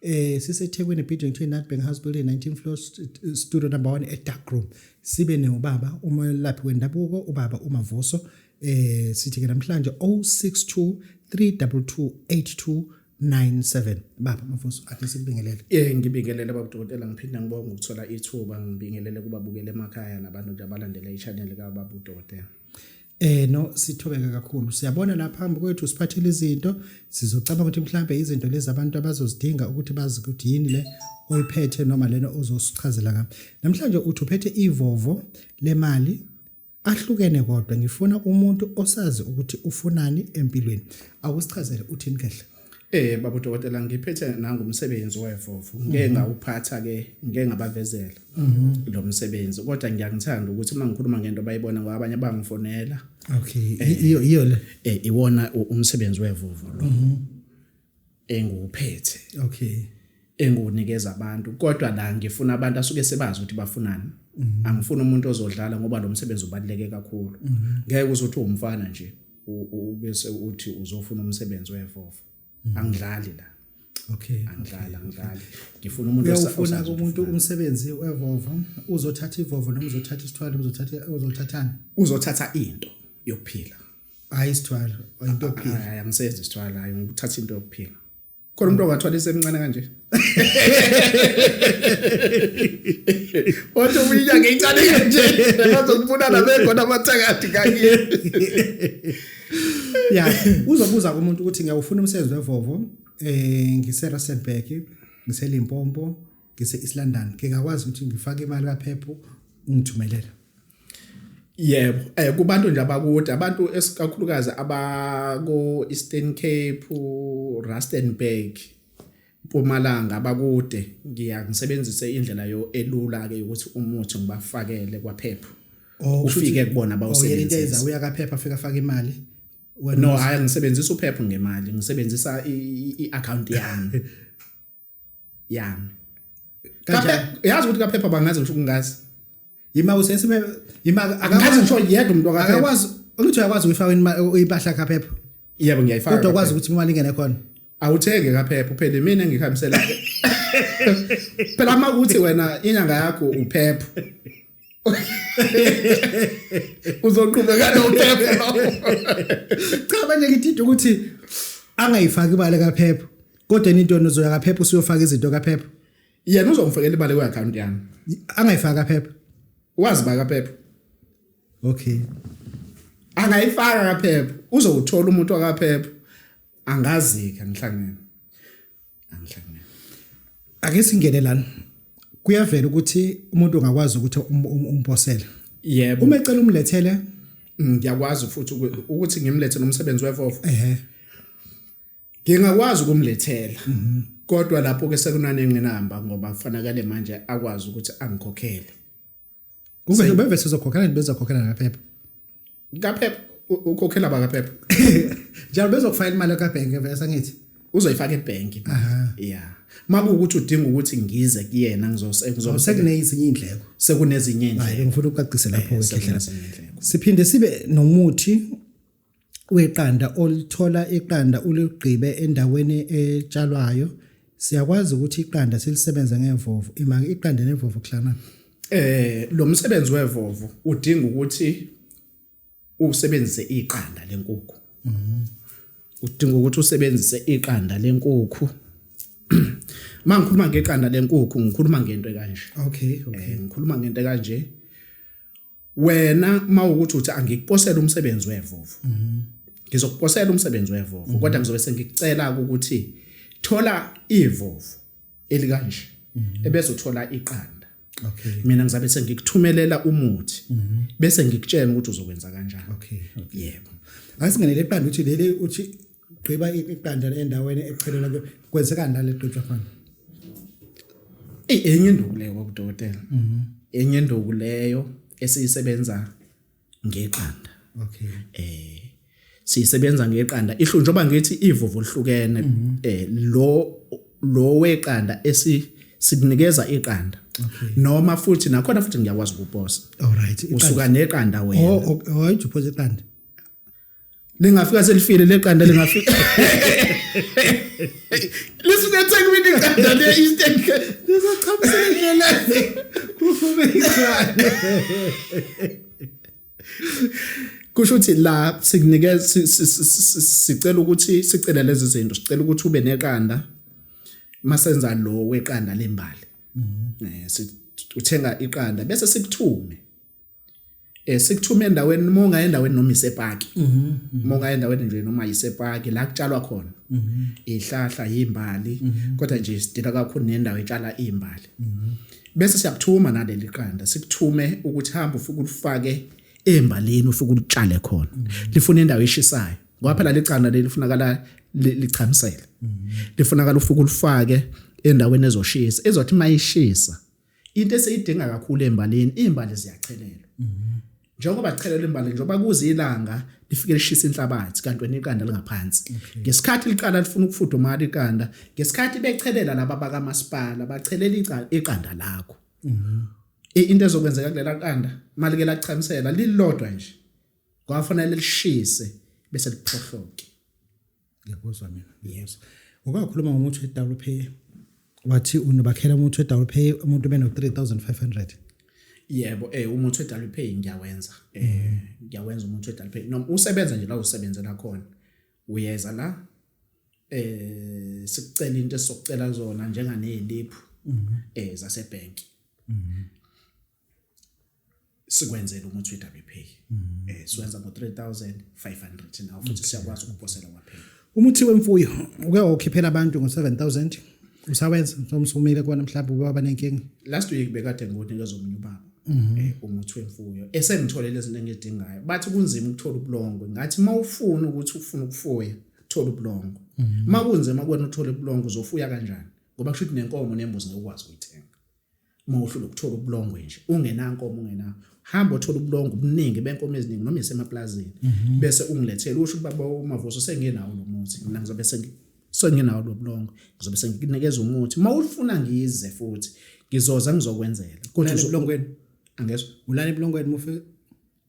eh siseThekwini building 29 Bank House building 19 floor studio number 1 at dark room sibe neubaba umelaphi wendabuko ubaba uMavuso eh sithi ke namhlanje 062 322 82 97 baba mafuso athi sikubingelele eh ngibingelele baba dokotela ngiphinda ngibonga ukuthola ithuba ngibingelele kubabukele emakhaya nabantu nje abalandela ichannel ka baba dokotela Eh no sithobeke kakhulu siyabona la phambi kwethu siphathile izinto sizocabanga ukuthi mhlambe izinto lezi abantu abazozidinga ukuthi bazi ukuthi yini le oyiphethe noma lena ozosichazela ngami namhlanje uthi uphethe ivovo lemali ahlukene kodwa ngifuna umuntu osazi ukuthi ufunani empilweni akusichazele uthini kahle Eh baba dokotela ngiphethe nangu umsebenzi wevovo ngeke mhm. ngawuphatha ke ngeke ngabavezela mhm. lo msebenzi kodwa ngiyangithanda ukuthi uma ngikhuluma ngento bayibona ngoba abanye bangifonela okay eh, iyo iyo le eh iwona umsebenzi wevovo lo mhm. engiwuphethe okay engunikeza abantu kodwa la ngifuna abantu asuke sebazi ukuthi bafunani angifuni umuntu ozodlala ngoba lo msebenzi ubaluleke kakhulu ngeke uzothi umfana nje ubese uthi uzofuna umsebenzi wevovo mm. angidlali la okay angidlali angidlali ngifuna umuntu uyafuna umuntu umsebenzi wevovo uzothatha ivovo noma uzothatha isithwalo uzothatha uzothathani uzothatha into yokuphila hayi isithwalo into yokuphila hayi angisenzi isithwalo hayi ngithatha into yokuphila khona umuntu ongathwala isemncane kanje wathi uminya ngeyincane kanje bazokubulala bekhona amathakathi kanye ya uzobuza kumuntu ukuthi ngiyawufuna umsebenzi wevovo eh ngiseRustenburg ngiseLimpopo ngise-East London ngingakwazi ukuthi ngifake imali kaphepho ungithumelela Yebo, eh kubantu nje abakude, abantu esikakhulukazi abako Eastern Cape, Rustenburg, Mpumalanga abakude, ngiya ngisebenzise indlela yo elula ke ukuthi umuthi ngibafakele kwaphepha. Oh, Ufike kubona oh, bawusebenzisa. Uya kaphepha afika afaka imali. No, hayi ngisebenzisa uphepha ngemali, ngisebenzisa i-account yami. ya kape yazi ukuthi kaphepha bangazi ngisho kungazi yima usesime yima akazi ngisho yedwa umuntu akaphepha akakwazi ukuthi uyakwazi ukuyifaka impahla kaphepha yebo ngiyayifaka kodwa kwazi ukuthi imali ingene khona awuthenge kaphepha uphele mina ngihambisela phela uma ukuthi wena inyanga yakho uphepha uzoqhubeka nophepha cha manje ngithitha ukuthi angayifaki imali kaphepha Kodwa into uzoya kaphepha usuyofaka izinto kaphepha. Yena uzomfakela imali kwi account yami. Angayifaka kaphepha. Wazi ba kaphepha. Okay. Angayifaka kaphepha. Uzowuthola umuntu wakaphepha. Angazi ke ngihlangene. Angihlangene. Ake singene lana. Kuyavela ukuthi umuntu ungakwazi ukuthi um-, um-, umphosele. Yebo. Uma ecela umlethele ngiyakwazi futhi ukuthi ngimlethe nomsebenzi wefofo. Ehhe. ngingakwazi ukumlethela mhm. kodwa lapho ke sekunanenqinamba ngoba kufanakele manje akwazi ukuthi angikhokhele kube bebe sizokhokhela bezokhokhela ngaphepha ngaphepha ukhokhela bakaphepha njalo bezokufayela imali kabhenke vese ngithi uzoyifaka ebhenki yeah makuwukuthi udinga ukuthi ngize kuyena ngizosebenza sekunezinye indleko sekunezinye indleko ngifuna ukucacise lapho eh, wekhehlela siphinde sibe nomuthi weqanda olithola iqanda uligqibe endaweni etshalwayo siyakwazi ukuthi iqanda silisebenze ngevovu ima iqanda nevovu kuhlangana eh lo msebenzi wevovu udinga ukuthi usebenzise iqanda lenkukhu mhm. udinga ukuthi usebenzise iqanda lenkukhu mangikhuluma ngeqanda lenkukhu ngikhuluma ngento kanje okay okay eh, ngikhuluma ngento kanje wena mawukuthi uthi angikuposela umsebenzi wevovo mhm. ngizokuposela umsebenzi wevovo mhm. kodwa ngizobe sengikucela ukuthi thola ivovo elikanje mhm. ebese uthola iqanda okay mina ngizabe sengikuthumelela umuthi bese ngikutshela ukuthi uzokwenza kanjani okay yebo asingenele iqanda uthi leli uthi gqiba iqanda endaweni echelela kwenzeka ndale gqitshwa fana enye induku leyo kwakudokotela mhm. enye induku leyo esiyisebenza ngeqanda okay eh siyisebenza ngeqanda ihlu njengoba ngithi ivuvu lihlukene mhm. eh lo lo weqanda esi sikunikeza iqanda noma futhi nakhona futhi ngiyakwazi ukuposa alright usuka neqanda wena oh, oh, oh, awayijuphoza iqanda lingafika selifile leqanda lingafika lisuke ethekwini iqanda le eastern lizochamsela indlela kufume iqanda kusho ukuthi la sikunikeza sicela ukuthi sicela lezi zinto sicela ukuthi ube neqanda masenza lo weqanda lembali mhm. eh uthenga iqanda bese sikuthume eh sikuthuma endaweni noma ungaye endaweni noma isepaki mhm, mhm. uma ungaye endaweni nje noma isepaki la kutshalwa khona mhm. ihlahla yimbali kodwa nje sidila kakhulu nendawo etshala imbali bese siyakuthuma naleli qanda sikuthume ukuthi hamba ufike ulifake embalini ufike ulitshale khona lifuna indawo eshisayo ngoba phela licana leli lifunakala lichamisele lifunakala ufike ulifake endaweni ezoshisa ezothi mayishisa into eseyidinga kakhulu embalini imbali ziyachelelwa mhm. njengoba chelelwa imbali njengoba kuze ilanga lifike lishisa inhlabathi kanti wena iqanda lingaphansi ngesikhathi liqala lifuna ukufudumala iqanda ngesikhathi bechelela laba bakamasipala bachelela iqanda lakho mhm. into ezokwenzeka kulela qanda malike lachamisela lilodwa nje kwafanele lishise bese liphohloke ngiyakuzwa mina yes ukakhuluma ngomuthi we-double pay wathi unobakhela umuthi we-double pay umuntu ube no-3500 yebo eh umuthi we-double pay ngiyawenza eh ngiyawenza umuthi we-double pay noma usebenza nje la usebenzela khona uyeza la eh sikucela into esizocela zona njenganeziliphu mhm. eh zasebhenki mhm. sikwenzela umuthi weWP mm. eh siwenza ngo 3500 now futhi siyakwazi ukuphosela kwaphela umuthi wemfuyo uke wakhiphela abantu ngo 7000 usawenza somsumile kona mhlawumbe ubaba banenkingi last week bekade ngokunika zomunye ubaba mhm. eh, umuthi wemfuyo esengitholele izinto engidingayo bathi kunzima ukuthola ubulongwe ngathi mawufuna ukuthi ufuna ukufuya thola ubulongwe mhm. makunzima kwena uthola ubulongwe uzofuya kanjani ngoba kusho ukuthi nenkomo nembuzi ngokwazi ukuyithenga uma uhlula ukuthola ubulongwe nje ungenankomo ungena hamba othola ubulongwe obuningi benkomo eziningi noma isemaplazini mhm. bese ungilethele usho ukuthi baba umavuso sengenawo lo muthi mina ngizobe sengenawo lo bulongwe ngizobe senginikeza umuthi uma ulifuna ngize futhi ngizoza ngizokwenzela kodwa ubulongweni angezwa ulala ebulongweni mufe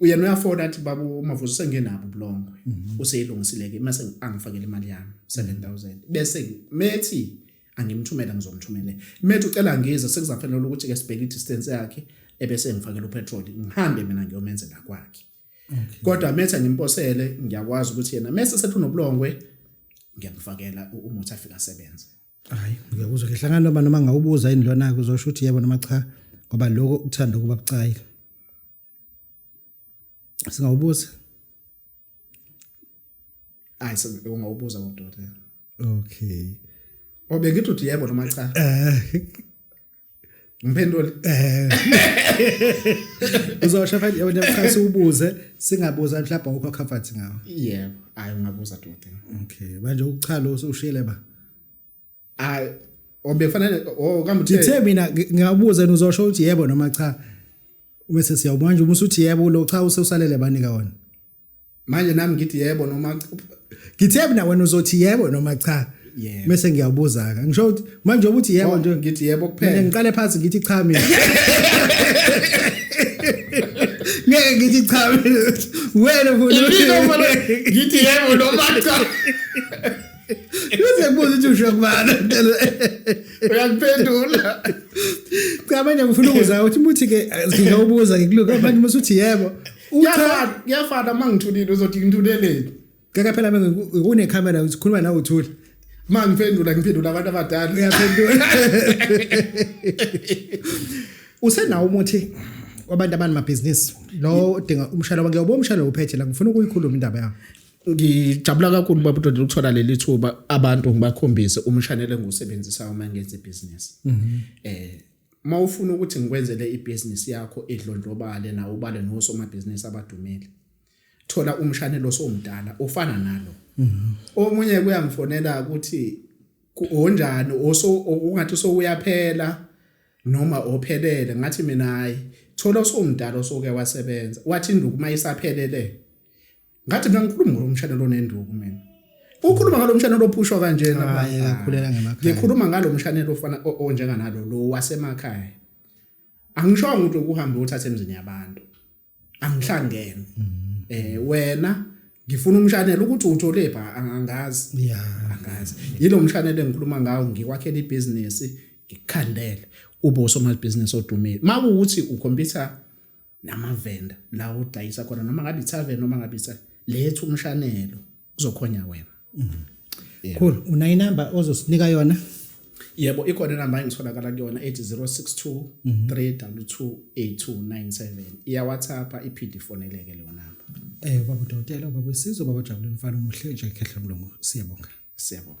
uyena uyafona athi baba umavuzo sengenabo ubulongwe mhm. useyilungisileke mase angifakele imali yami 7000 bese methi angimthumela ngizomthumele methi ucela ngize sekuzafanele ukuthi ke sibheke distance yakhe ebese ngifakela upetrol ngihambe mina ngiyomenzela kwakhe kodwa methi angimposele ngiyakwazi ukuthi yena mese sethunobulongwe ngiyamfakela umuthi afika asebenze hayi ngiyakuzwa ke hlangana noma noma ngawubuza yini lona kuzosho ukuthi yebo noma cha ngoba lokho ukuthanda ukuba bucayi singawubuza hayi singawubuza kodwa okay obengithi uthi yebo noma cha eh Ngiphendule. Eh. Uzosho phela yona mkhasi ubuze singabuza mhlawumbe awukho comfort ngawo. Yebo, ayi ungabuza dote. Okay, manje ukuchala ushile ba. Ayi obe fanele o kambe uthe. Ngithe mina ngiyabuza uzosho ukuthi yebo noma cha. Uma sesiyawubona nje uma usuthi yebo lo cha ususalele banika wona. manje nami ngithi yebo noma ngithe mina wena uzothi yebo noma cha yeah. mese ngiyabuza ka ngisho ukuthi manje ukuthi yebo nje ngithi yebo kuphela ngiqale phansi ngithi cha mina ngeke ngithi cha mina wena futhi ngithi yebo noma cha Uze kubuza ukuthi usho kubana. Uyakuphendula. Cha manje ngifuna ukuza ukuthi muthi ke ngiyawubuza ngikuluka manje musuthi yebo. Kuyafana kuyafana mangithulile uzothi ngithuleleni. Kaka phela ngikune camera uzikhuluma nawe uthule. Ma ngiphendula ngiphendula abantu abadala. Uyaphendula. Usenawo umuthi wabantu abani mabhizinisi lo udinga umshalo wakhe ubo umshalo uphethe la ngifuna ukuyikhuluma indaba yakho ngijabula kakhulu baba uDondela ukuthola leli thuba abantu ngibakhombise umshanele ngiwusebenzisa uma ngenza ibusiness mhm. eh Uma ufuna ukuthi ngikwenzele ibhizinisi yakho idlondlobale nawo ubale nosomabhizinisi abadumile thola umshanelo osomdala ofana nalo omunye kuyangifonela ukuthi onjani oso ungathi sowuyaphela noma ophelele ngathi mina hayi thola osomdala osoke wasebenza wathi induku uma isaphelele ngathi mina ngikhuluma ngalo mshado lonenduku mina ukhuluma ngalo mshane lophushwa kanjena ah, abanye ngakhulela ngemakhaya ngikhuluma ngalo mshane lofana onjenga nalo lo wasemakhaya angishongo ukuthi ukuhambe uthathe emzini yabantu angihlangene mm-hmm. eh wena ngifuna umshanelo ukuthi uthole pha angazi yeah angazi yilo mshanelo engikhuluma ngawo ngikwakhela ibusiness ngikukhandele ube usomali business odumile makuwuthi ukhompyutha namavenda la udayisa khona noma ngabe ithaven noma ngabe ithaven letha umshanelo kuzokhonya wena mm-hmm. cool una inamba ozosinika yona yebo ikhona inamba engitholakala kuyona ethi 062 3228297 iyawhatsapp iphinde ifoneleke leyo namba eh baba dokotela baba sizo baba jabuleni mfana umuhle nje khehla mlungu siyabonga siyabonga